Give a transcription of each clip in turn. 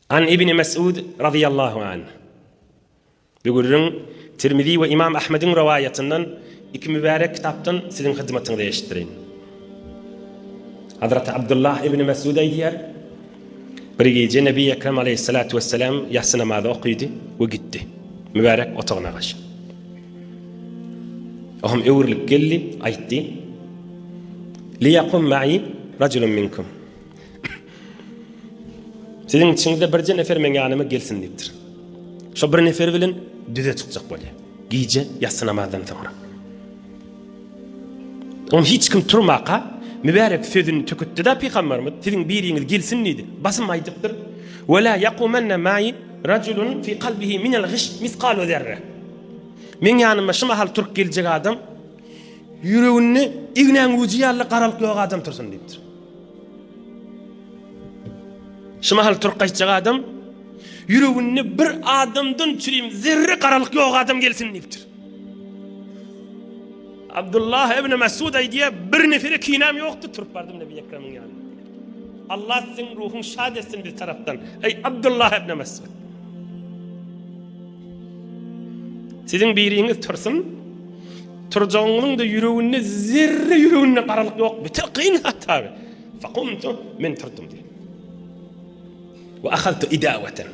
An Ibni Mes'ud razyýallahu anh, Bigürrüň, Tirmizi we Ymam Ahmediň rowaýatyndan iki mübärek kitapdan siziň hyzmatyňyza eşitdireýin. Hazraty Abdullah ibni Mes'ud aýdýar, Bir gije Nebi Ekrem aleýhissalatu wessalam ýassy namazy okydy we gitdi. Mübärek otagyna gaş. Ohum öwrülip geldi, aýtdy, Liýakum ma'i rajulun minkum. Siziň içiňizde birje nefer meň ýanyma gelsin diýipdir. Şo bir nefer bilen düze çykjak bolýar. Gije ýassy namazdan soňra. On hiç kim turmaka mübärek sözüni tökütdi-de pygamberimiz siziň biriňiz gelsin diýdi. Basym aýdypdyr. Ve la yaqumanna ma'i rajulun fi kalbihi min al ghish misqalu zerre. Men ýanyma şu mahal turk geljek adam ýüreginde ignäň güýji ýaly garalyk ýok adam tursun diýipdir. Şu mahal türk gaýtjak adam ýüreginde bir adamdan çürim zerre garalyk ýok adam gelsin diýipdir. Abdullah ibn Masud aýdýar, bir nefere kinäm ýokdy, turup bardym Nebi Ekremiň ýanyna. Allah siziň ruhuň şad etsin biz tarapdan. Eý Abdullah ibn Masud. Siziň biriňiz tursun, turjagyňyzyň-da ýüreginde zerre ýüreginde garalyk ýok, beter kyn hata. Fakumtu, men turdum diýip. Ve ahadtu idavaten.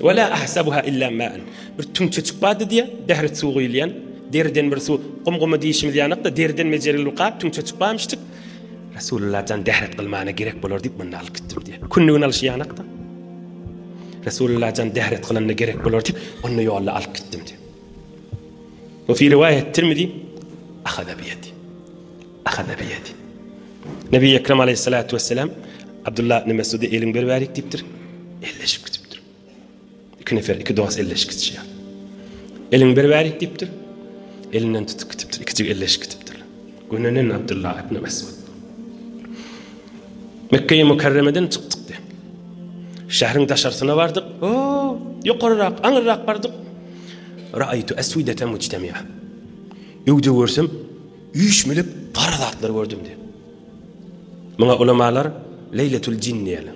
Ve la ahsabuha illa ma'an. Bir tüňçe çykbady diýe, dehret suw guýulýan. Deriden bir suw, gum-guma diýişimiz ýanakda, deriden mejeril bir gap tüňçe çykbaýmyşdyk. Resulullah jan dehret kylmana gerek bolar diýip, munda alyp gitdim diýe. Kündügini alyşy ýanakda. Resulullah jan däret kylanda gerek bolar diýip, ony ýolda alyp gitdim diýip. Ve fi rivayet Tirmizi ahada bi yedi. Ahada bi yedi. Nebi Ekrem aleyhissalatu vesselam Abdullah ibn Mesud'a elin bir verik deyiptir. Elleşip gidipdir. İki nefer, iki dost elleşip gidişiyor. Elin bir verik deyipdir. Elinden tutup gidipdir. İkicik elleşip gidipdir. Gönenen Abdullah ibn Mesud. Mekge-i Mükerremeden çykdyk diýip, şähriň daşarsyna bardyk. O, ýokaryrak, aňyrrak bardyk. Ra'aytu aswidatan mujtami'a. Öwde görsem, üýşmelek gara zatlar gördüm diýip. Muňa ulamalar Leýletul jin diýýärler.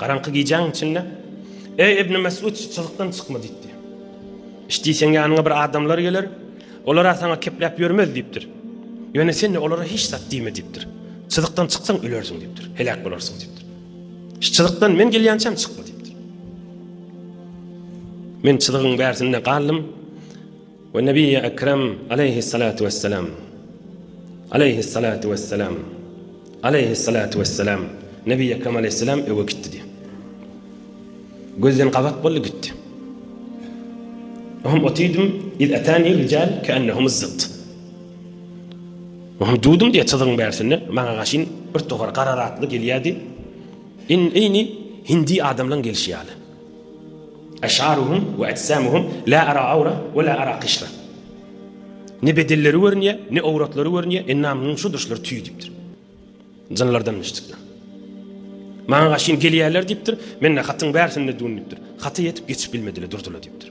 Garaňky gijäň içinde, Eý, Ibni Mesut, şu çyzykdan çykma diýipdi. Işdiýseň ýanyňa bir adamlar geler, olar-a saňa kepläp ýörmez diýipdir. Ýöne sen-de olara hiç zat diýme diýipdir. Çyzykdan çyksaň ölersiň diýipdir, heläk bolarsyň diýipdir. Şu çyzykdan men gelýänçäm çykma diýipdir. Men çyzygyň bärsinde galdym. We Nebiyyi Ekrem Aleyhissalatu Vesselam Aleyhissalatu Vesselam Aleyhissalatu Vesselam Nebiyyi Ekrem Aleyhissalem öwe gitdi diýip. Gözden gabat boldy gitdi. Ohm otyrdym iz etani rical keennehum zztt. Ohm durdum diýe çyzygyň bärsinde maňa gaşyn bir towar gara zatly gelýärdi. In ini hindi adamlaň gelşi ýaly. Eş'aruhum we ejsamuhum la ara awra we la ara qişra. Ne bedenleri görünýär, ne owratlary görünýär, endamlarynyň şudur şular tüý diýipdir. Jynlardanmyş çykýan. Maňa gaşyn gelýärler diýipdir. Men-de hatyň bärsini düwün diýipdir. Haty ýetip geçip bilmediler, durdylar diýipdir.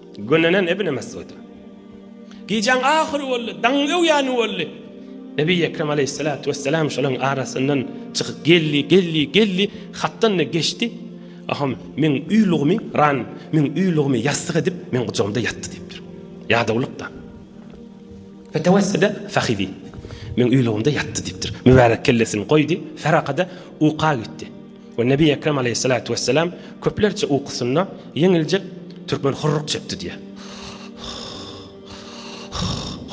Günlenen Ibn Mesud. Gijäň ahyry boldy, daň öwýäni boldy. Nebi Ekrem aleýhissalatu wessalam şolaryň arasyndan çykyp geldi, geldi, geldi, hatdan-da geçdi. Aham, meň uýlugymy, ran, meň uýlugymy ýassyk edip, meň gujagymda ýatdy diýipdir. Ýadawlykda. Fetewessede fahizi. Meň uýlugymda ýatdy diýipdir. Mübärek kellesini goýdy, Ferakada uka gitdi. We Nebi Ekrem Aleýhissalatu Wesselam köplerçe ukusynda ýeňiljek türkmen hurruk çekdi diýýär.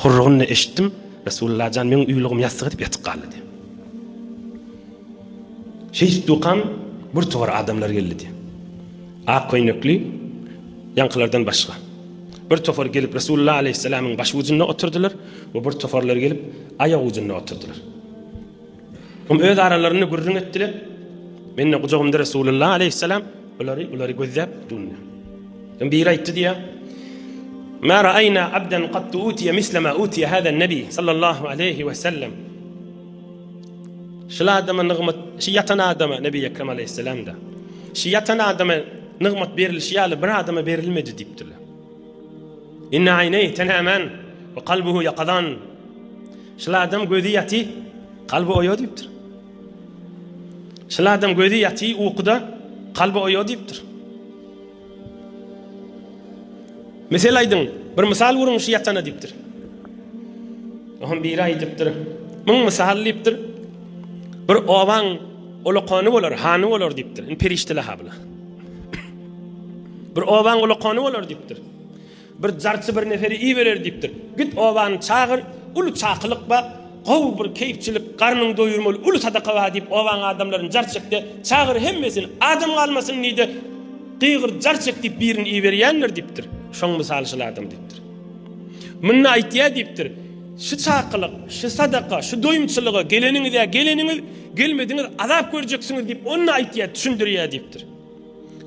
Hurrugyny eşitdim, Resulullah jan meň uýlugym ýassyk edip ýatyp galdy diýýär. Şeýdip dukam bir togar adamlar geldi diýýär. Ak köýnekli ýaňkylardan başga. Bir topar gelip Resulullah Aleýhissalamyň baş ujunda oturdylar we bir toparlar gelip aýak ujunda oturdylar. Soň öz aralarynda gürrüň etdiler. Mende gujagymda Resulullah aleyhisselam ulary ulary gözläp durdy. Soň biri aýtdy diýä. Ma ra'ayna abdan qattu utiya misla ma utiya hada nabi sallallahu aleyhi ve sellem. Şul adama nygmat, şu ýatan adama Nebi Ekrem aleyhisselam da. Şu ýatan adama nygmat berilişi ýaly bir adama berilmedi diýipdirler. Inne aýneý tenämen we kalbuhu ýakazan. Şul adam gözi ýaty, kalby oýa diýipdir. Şul adam gözi ýaty ukuda, kalby oýa diýipdir. Mesel aýdyň, bir mysal guruň şu ýatana diýipdir. Oňa biri aýdypdyr, Muň mysal diýipdir, bir obaň ulukany bolar, hany bolar diýipdir. Indi perişdeler-ha bular. Bir oban gula kony bolar diýipdir. Bir jarçy bir neferi iberer diýipdir. Git obany çagyr, uly çakylyk bar, gowy bir keýpçilik, garnyňy doýurmaly uly sadaka bar diýip obanyň adamlaryny jar çekde çagyr hemmesini adam galmasyn diýde gygyr jar çek diýip birini iberýändir diýipdir. Şoň mysaly şul adam diýipdir. Munda aýtýar diýipdir. Şu çakylyk, şu sadaka, şu doýumçylyga geleniňiz ýa geleniňiz, gelmediňiz azap görjeksiňiz diýip onda aýtýar, düşündirýär diýipdir.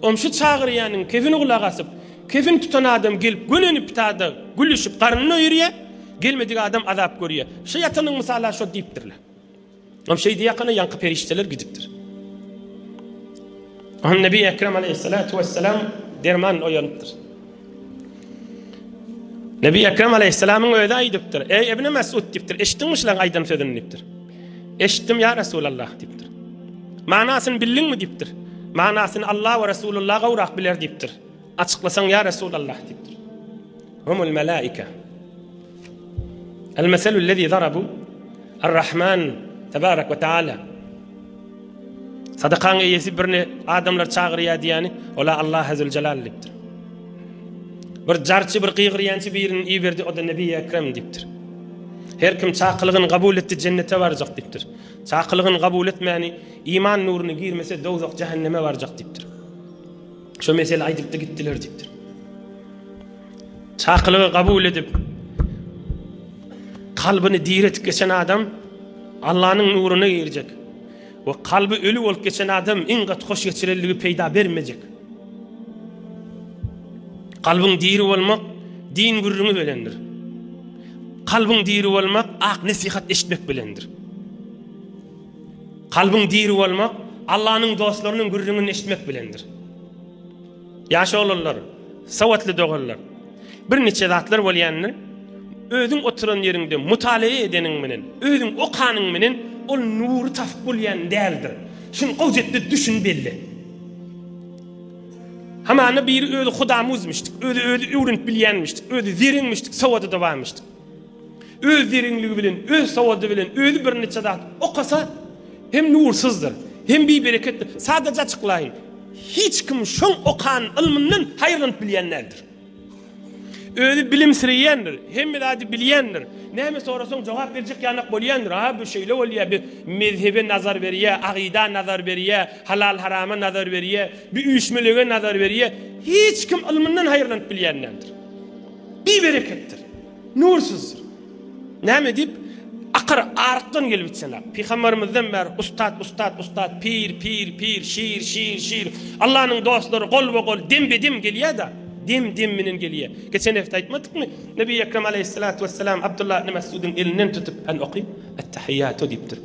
Oňa şu çagyrýanyň kefini gulak asyp, kefin tutan adam gelip gönenip bitada gülüşip garnyny doýurýar, gelmedik adam azap görýär. Şu ýatanyň mysaly-a şo diýipdirler. Hem şeýdi ýakana ýaňky perişdeler gidipdir. Hem Nebi Ekrem aleyhissalatu vesselam derman oýanypdyr. Nebi Ekrem aleyhissalamyň öýde aýdypdyr. Eý Ibn Mesud diýipdir. Eşitdiňmi şulaň aýdan sözüni diýipdir. Eşitdim ýa Resulallah diýipdir. Manasyny bildiňmi diýipdir. Manasyny Allah we Resulullah gowrak biler diýipdir. Açyklasaň ýa Resulallah diýipdir. Humul melaika. Al-mesalu lezi zarabu Ar-Rahman tebarek ve taala. Sadakaň eýesi birini adamlar çagyrýar diýýäni, ola Allah azze ve celal diýipdir. Bir jarçy bir gygyrýançy birini iberdi, o da Nebi Ekrem diýipdir. Her kim çakylygyny kabul etdi, jennete barjak diýipdir. Çakylygyny kabul etmäni, iman nuruny girmese, dowzak jehenneme barjak diýipdir. Şu mesele aýdypdy gitdiler diýipdir. Çakylygy kabul edip, kalbyny diretip geçen adam Allanyň nuruna girjek we kalby öli bolup geçen adam iň gaty hoş geçiriligi peýda bermejek. Kalbyň diri bolmak din gürrüňi bilendir. Kalbyň diri bolmak ak nesihat eşitmek bilendir. Kalbyň diri bolmak Allanyň dostlarynyň gürrüňini eşitmek bilendir. Ýaş oglanlar, sowatly doganlar, bir niçe zatlar bolýandyr, özüň oturan ýeriňde mutalaa edeniň menen, özüň okanyň menen ol nury tasyp bolýan däldir. Şuny gowjetde düşün belle. Hamana biri özi hudamuzmyşdyk, özi özi öwrenip bilýänmişdik, özi zereňmişdik, sowady-da barmyşdyk. Öz zerinligi bilen, öz sowady bilen özi birniçe zat okasa hem nursyzdyr, hem bibereketdir. Sadaja açyklaýyn, hiç kim şoň okan ylmyndan haýyrlanyp bilýän däldir. Özi bilimsireýändir, hemme zady bilýändir, näme sorasaň jogap berjek ýanak bolýandyr, a bu şeýle bolýa, bi mezhebe nazar berýä, agyda nazar berýä, halal-harama nazar berýä, bi üýşmelege nazar berýä, hiç kim ylmyndan haýyrlanyp bilýän däldir. Bibereketdir. Nursuzdyr. Näme diýip, akyr, arykdan gelip içseň-ä. Pygamberimizden bäri ustat, ustat, ustat, pir, pir, pir, şir, şir, şir, Allanyň dostlary golba-gol, dembe-dem gelýär-de, dem-dem bilen gelýär. Geçen hepde aýtmadykmy, Nebi Ekrem alaýhyssalatu wessalam Abdullah ibn Mesgudyň elinden tutup, Än oky, Ettehiýatu diýipdir.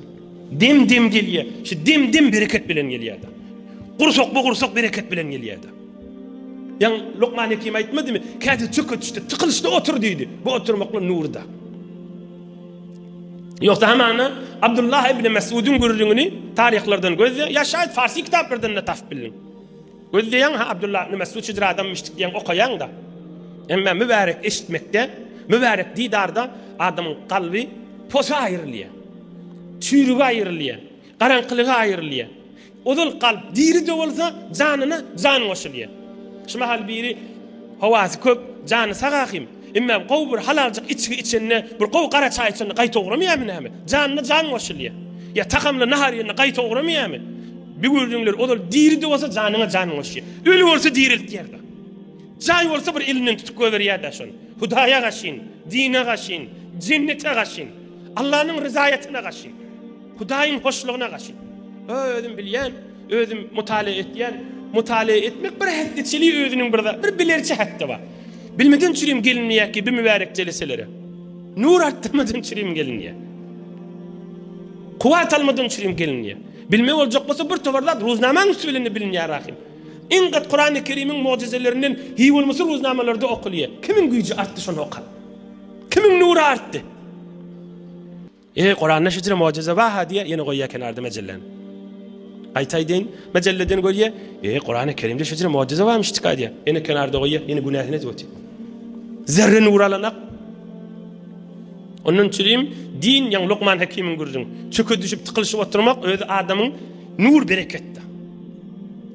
Dem-dem gelýär. Şu dem-dem bereket bilen gelýär-de. Gursak-bu gursak bereket bilen gelýär-de. Ýaňy Lukman Hekim aýtmadymy? Käte çöketişde, tykylyşda otur diýdi. Bu oturmaklyk nurda. Ýogsa hamana Abdullah ibn Mesudun gürrüňini taryhlardan gözle, ýa şaýat farsy kitaplardan da tapyp bildiň. Gözleýäň ha Abdullah ibn Mesud şudur adamyşdyk diýen okaýaň da. Emma mübärek eşitmekde, mübärek didarda adamyň kalby posa aýrylýar. Çüýrüge aýrylýar, garaňkylyga aýrylýar. Ozal kalp diri-de bolsa, janyna jan goşulýar. Şu mahal biri howasy köp, jany sag ahim. Emma gowy bir halaljyk içgi içende, bir gowy gara çaý içende gaýta ugrameýärmi näme? Janyna jan goşulýar. Ýa tagamly nahar iýende gaýta ugrameýärmi? Bu gördüňler ozal diri-de bolsa janyňa jan goşýar. Öli bolsa diriltýär-de. Jaý bolsa bir elinden tutup goýberýär-de şony. Hudaýa gaşyn, dine gaşyn, jennete gaşyn, Allanyň ryzaýatyna gaşyn. Hudaýyň hoşlugyna gaşyn. Özüm bilýän, özüm mutala etýän, mutala etmek bir hässeçili özüniň bir zat, bir bilerçi hakda bar. Bilmeden çürim gelinýär ki, bu mübärek jeleselere. Nur artdyrmadan çürim gelinýär. Kuwat almadan çürim gelinýär. Bilme boljak bolsa bir tobar zat ruznamaň üsti bilen bilinýär ahim. Iň gat Kurany Kerimiň mucizelerinden hi bolmasy ruznamalarda okulýar. Kimiň güýji artdy şony oka. Kimiň nury artdy. Eý, Kuranda şüjre mojize baha diýe ýene goýýa kenarda mejelläni. Aýtaý deýin, mejelleden goýýa, eý, Kuranda kerimde şüjre mojize barmyş çyka diýe. Ýene kenarda goýýa, ýene günäsini edip otyr. Zerre nur alanak. Ondan çürim din ýan Lukman Hakimiň gürrüň. Çöke düşüp tıkylyşyp oturmak özi adamyň nur bereketdi.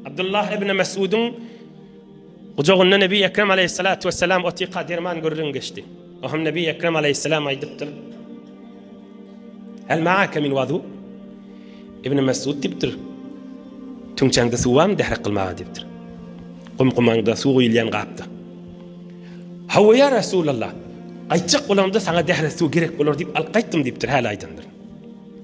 Abdullah ibn Mesudun Gujagynda Nebi Ekrem aleýhissalatu wessalam otyka derman gürrüň geçdi. Oham Nebi Ekrem aleýhissalam aýdypdyr. Hal ma'aka min wazu? Ibn Mesud diýipdir. Tüňçäňde suw barmy dährak kylmaga diýipdir. Gum-gumaňda suw guýulýan gapda. Hawa ýa Resulallah. Aýtjak bolamda saňa dährak suw gerek bolar diýip alyp gaýtdym diýipdir. Hal aýdandyr.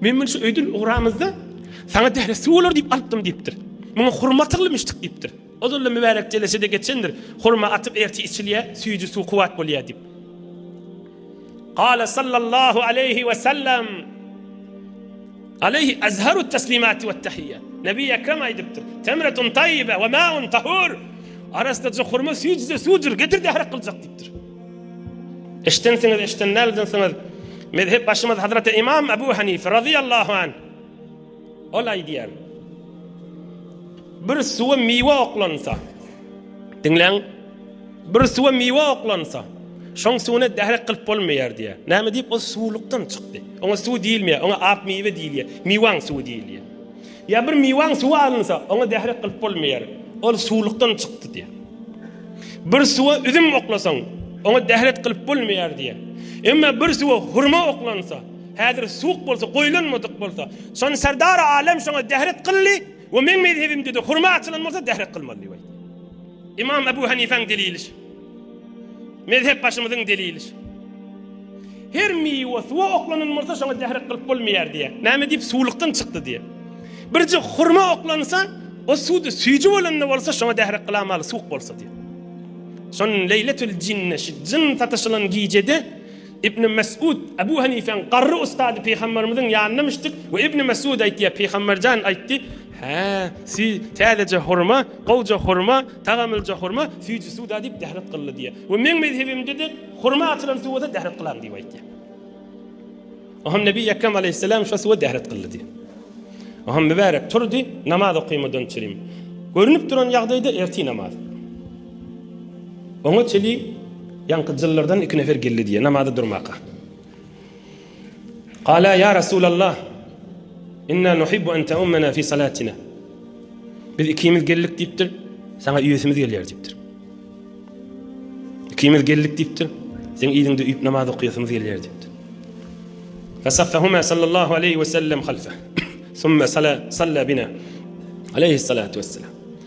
Men muny şu öýden ugramyzda saňa dähli suw bolar diýip alypdym diýipdir. Muňa hurma atyrylmyşdyk diýipdir. Ozal-da mübärek jeleşede geçendir. Hurma atyp ertir içilýär, süýji suw kuwwat bolýar diýip. Gala sallallahu aleýhi we sellem Aleýhi azharu taslimati we tahiyya. Nebi Ekrem aýdypdyr. Temretun tayyibe we ma'un tahur. Arasda hurma süýjüde suwdur, getir dährak gyljak diýipdir. Eşdensiňiz, eşden däl dynsyňyz. Mezhep başymyz Hazreti İmam Ebu Hanife radıyallahu anh. Ol aýdýar. Bir suwa miwe oklansa. Diňläň. Bir suwa miwe oklansa. Şoň suwuna dährek kılıp bolmaýar diýär. Näme diýip o suwlukdan çykdy. Oňa suw diýilmeýär, oňa ak miwe diýilýär. Miwaň suwy diýilýär. Ýa bir miwaň suwa alynsa, oňa zäher gylyp bolmaýar, ol suwlukdan çykdy diýýär. Bir suwa üzüm oklasaň, oňa zäher gylyp bolmaýar diýýär. Emma bir suwa hurma oklansa, häzir suwuk bolsa, goýlanmadyk bolsa, şony Serdar Alem şoňa zäher gylly we meň mezhebimde-de hurma açylan bolsa zäher gylmaly diýip aýtýar. Ymam Ebu Hanifäň delili şu. Mezhep başymyzyň delilidir. Her miwe suwa oklanylmasa şoňa dährek gylyp bolmaýar diýýär. Näme diýip suwlukdan çykdy diýýär. Birje hurma oklansa o suwda süýji bolanda bolsa şoňa dährek gylamaly suwuk bolsa diýýär. Şon leýletül jinne jyn sataşylan gijede Ibn Mes'ud, Abu Hanifäň garry ussady Pygamberimiziň ýanyna müşdik we Ibn Mes'ud aýtýar, Pygamber jan aýtdy, Hä, si, täzeje hurma, gowja hurma, tagamylja hurma, süýji suwda diýip dehret gylly diýýär. We meň mezhebimde-de hurma atylan suwa da dehret gylaň diýip aýtýar. Oňam Nebi Ekrem Aleýhisselam şo suwa dehret gylly diýýär. Oňam mübärek turdy, namaz okaýmadan çürim. Görünip duran ýagdaýda ertir namaz. Oňa çeli ýaňky jyllardan iki nefer geldi diýýär, namaza durmaka. Gala ýa Resulallah, inna nuhibbu an ta'ummana fi salatina. Biz ikimiz geldik diýipdir, sana üýesimiz gelýär diýipdir. Ikimiz geldik diýipdir, sen ýerinde üýüp namaz okuýasymyz gelýär diýipdir. Fasaffahuma sallallahu aleyhi ve sellem halfa. Summa sala salla bina. Aleyhi salatu vesselam.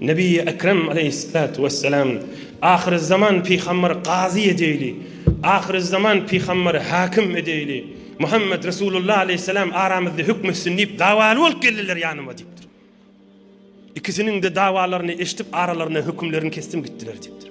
Nebiýi Ekrem aleýhyssalatu wessalam, Ahyrüzzaman pyhamberi gazy edeýli, Ahyrüzzaman pyhamberi hakim edeýli, Muhammet Resulullah aleýhyssalam aramyzda hükm etsin diýip dawaly bolup geldiler ýanyma diýipdir. Ikisiniň-de dawalaryny eşidip aralaryna hükümlerini kesdim gitdiler diýipdir.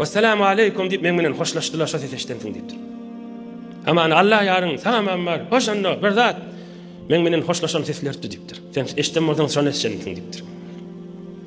Wessalamu aleykum diýip meň bilen hoşlaşdylar şo ses eşden soň diýipdir. Aman Allah ýaryň salam ammar hoş onda bir zat meň bilen hoşlaşan seslerdi diýipdir. Sen eşden bolsaň şony eşden diýipdir.